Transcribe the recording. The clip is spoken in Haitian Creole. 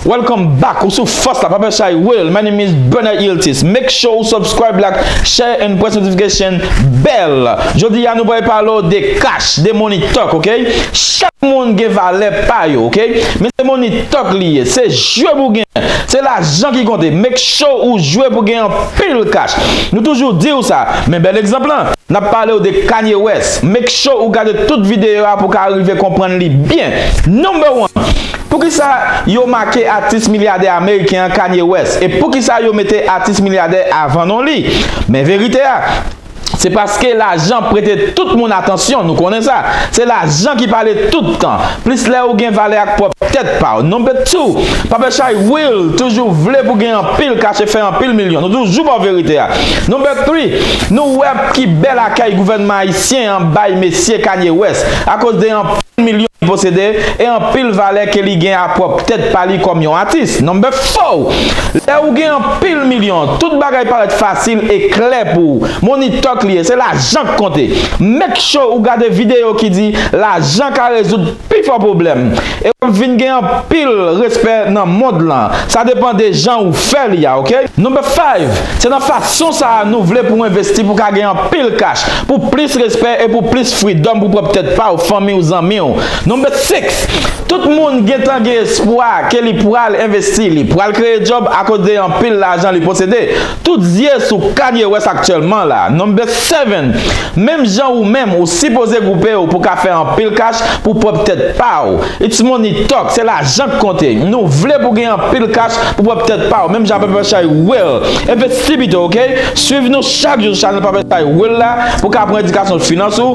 Welcome back ou sou fòs la papa chay will my name is Bernard Iltis make sure ou subscribe like share and press notification bell jodi ya nou bay palo de cash de money talk ok chak moun gen valè pa yo ok men se money talk li ye se jwe pou gen se lajan ki konte make sure ou jwe pou gen Pil cash. Nou toujou diw sa, men bèl egzanp lan. Nap palew de Kanye West. Make sure ou gade tout videyo a pou ka rive konprann li byen. Number one, Poukisa yo make atis milyadè ameriken an Kanye West e poukisa yo mete atis milyadè avan non li? Men verite a. Se paske lajan prete tout moun atansyon, nou konnen sa. Se lajan ki pale tout tan, plis lè ou gen valè ak pwòp tèt pa w. Number two, Pape Chay will toujou vle pou gen anpil kache fè anpil milyon. Nou toujou ba w verite a. Number three, nou wè ki bèl akèy gouvènman ayisyen an bay mesye Kanye West akoz de anpil milyon li posede e anpil valè ke li gen a pwòp tèt pa li kòm yon atis. Number four, Lè ou gen anpil milyon, Tout bagay parèt fasil e klè pou ou. Money talk li ye, se lajan k konte. Make sure ou gade videyo ki di lajan ka rezoud pifò pwoblèm e wap vin gen anpil respè nan mond lan. Sa depan de jan ou fè li a ok. Number five, Se nan fason sa a nou vle pou w envesti pou w ka gen anpil kach, pou plis respè e pou plis freedom pou pwòp tèt pa w, fanmi w, zanmi w. Number 6, Tout moun gentan gen espwa ke li pwal envesti, li pwal kreye djòb akoz de anpil lajan li posede. Tout zye sou Kanye West aktyèlman la. Number 7, Menm jan ou menm, ou sipoze gwoupe w pou ka fè anpil kach pou pwòp tèt pa w. It's money talk, se lajan k konte. Nou vle pou gen anpil kach pou pwòp tèt pa w menm jan Papershai Will. Envesti pito ok. Swiv nou chak jou sou chanèl Papershai Will la pou ka pran edikasyon finans ou.